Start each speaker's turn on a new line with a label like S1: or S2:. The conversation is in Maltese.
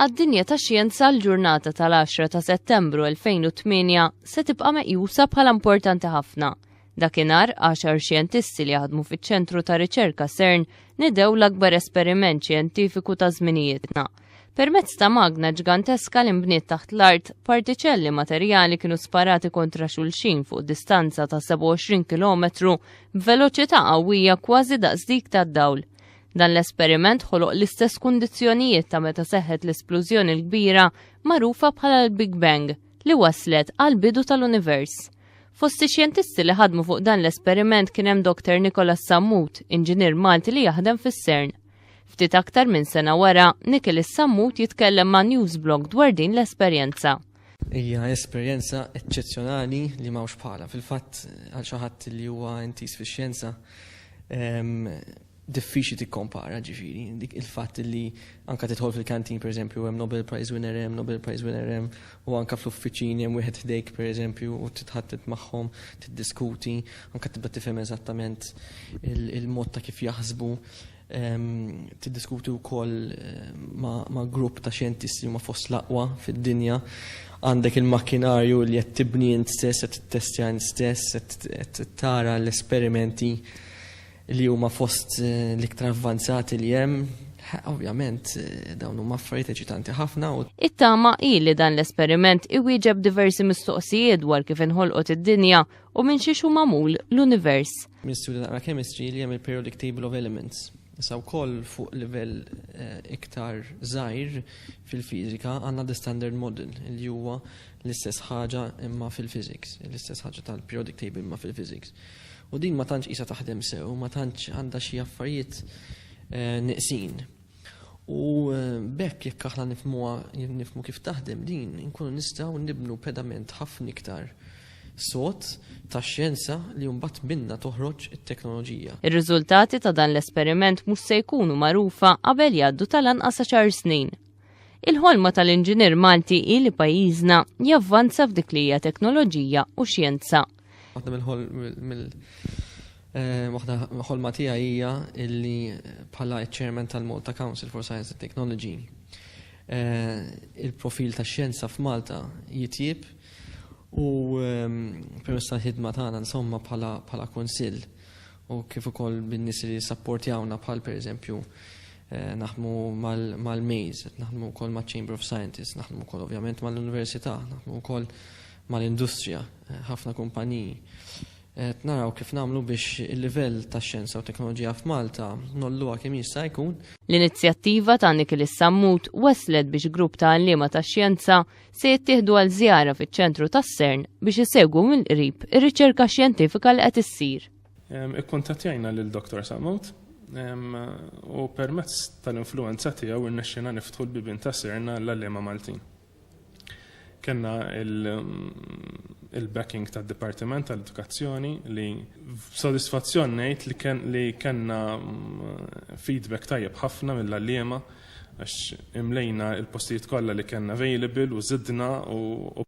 S1: għad-dinja ta' xjenza l-ġurnata tal-10 ta' Settembru 2008 se tibqa' meqjusa bħala importanti ħafna. Dakinhar, 10 xjentisti li jaħdmu fiċ-ċentru ta' riċerka CERN nidew l-akbar esperiment xjentifiku ta' żminijietna. Permezz ta' magna ġganteska li nbniet taħt l-art, partiċelli materjali kienu sparati kontra xulxin fuq distanza ta' 27 km b'veloċità qawwija kważi daqs dik tad-dawl. Dan l-esperiment ħoloq l-istess kundizzjonijiet ta' meta seħħet l-esplużjoni l-kbira magħrufa bħala l-Big Bang li waslet għal bidu tal-univers. Fost ix-xjentisti li ħadmu fuq dan l-esperiment kien hemm Dr. Nicolas Sammut, inġinier Malti li jaħdem fis-CERN. Ftit aktar minn sena wara, Nikil is-Sammut jitkellem ma' Newsblog dwar din l-esperjenza. Hija
S2: esperjenza eċċezzjonali li m'hawnx bħala. Fil-fatt għal xi ħadd li huwa intis fix-xjenza, ehm, diffiċli tikkompara ġifieri dik il-fatt li anke tidħol fil-kantin pereżempju hemm Nobel Prize winner hemm, Nobel Prize winner hemm u anke fl-uffiċini hemm wieħed ħdejk pereżempju u titħattet magħhom, tiddiskuti, anke tibda tifhem eżattament il-mod ta' kif jaħsbu, tiddiskuti wkoll ma' grupp ta' xjentisti li huma fost l-aqwa fid-dinja, għandek il-makkinarju li qed tibni int stess, qed tittestja int stess, qed tara l-esperimenti li huma fost l-iktar avvanzati li hemm, ovvjament dawn huma affarijiet eċitanti ħafna. It-tama hi
S1: li dan l-esperiment iwieġeb diversi mistoqsijiet dwar kif inħolqot id-dinja u minn xiex hu magħmul l-univers. Minn studju naqra
S2: chemistry li hemm il-periodic table of elements Sa wkoll fuq livell eh, iktar żgħir fil-fiżika għandna the standard model li huwa l-istess ħaġa imma fil-physics, l-istess ħaġa tal-periodic table imma fil-physics. U din ma tantx qisha taħdem sew, ma tantx għandha xi affarijiet nieqsin. U b'hekk jekk aħna nifhmuha, nifhmu kif taħdem din, inkunu nistgħu nibnu pedament ħafna iktar sod tax-xjenza li mbagħad minnha toħroġ it-teknoloġija. Ir-riżultati ta'
S1: dan l-esperiment mhux se jkunu magħrufa qabel jgħaddu tal-anqas għaxar snin. Il-ħolma tal-inġinier Malti hi li pajjiżna javvanza f'dik li hija teknoloġija u xjenza. Waħda mill-ħol mill
S2: eh, waħda ħolma tiegħi hija illi bħala ċ-chairman tal-Malta Council for Science and Technology eh, il-profil ta' xjenza f'Malta jitjib u ehm, permess tal-ħidma tagħna insomma bħala kunsill u kif ukoll bin-nies li sapportjawna bħal pereżempju eh, naħmu mal-Maze, naħmu wkoll ma' Chamber of Scientists, naħmu wkoll ovvjament mal-Università, naħmu wkoll mal-industrija, ħafna kumpaniji, qed naraw kif nagħmlu biex il-livell tax-xjenza u t-teknoloġija f'Malta ngħolluha kemm jista' jkun. L-inizjattiva
S1: ta' Nikilis Sammut waslet biex grupp ta' għalliema tax-xjenza se jittieħdu għal żjara fiċ-ċentru tas-SERN biex isegwu mill-qrib ir-riċerka xjentifika li qed issir. Ikkuntattjajna
S3: lil Dottor Sammut u permezz tal-influwenza tiegħu rnexxielna niftħu l-bibien tas-SERN għall-għalliema Maltin. Kellna il-backing tad-Dipartiment tal-Edukazzjoni li b'sodisfazzjon ngħid li kien li kellna feedback tajjeb ħafna mill-għalliema għax imlejna l-postijiet kollha li kellna available u żidna u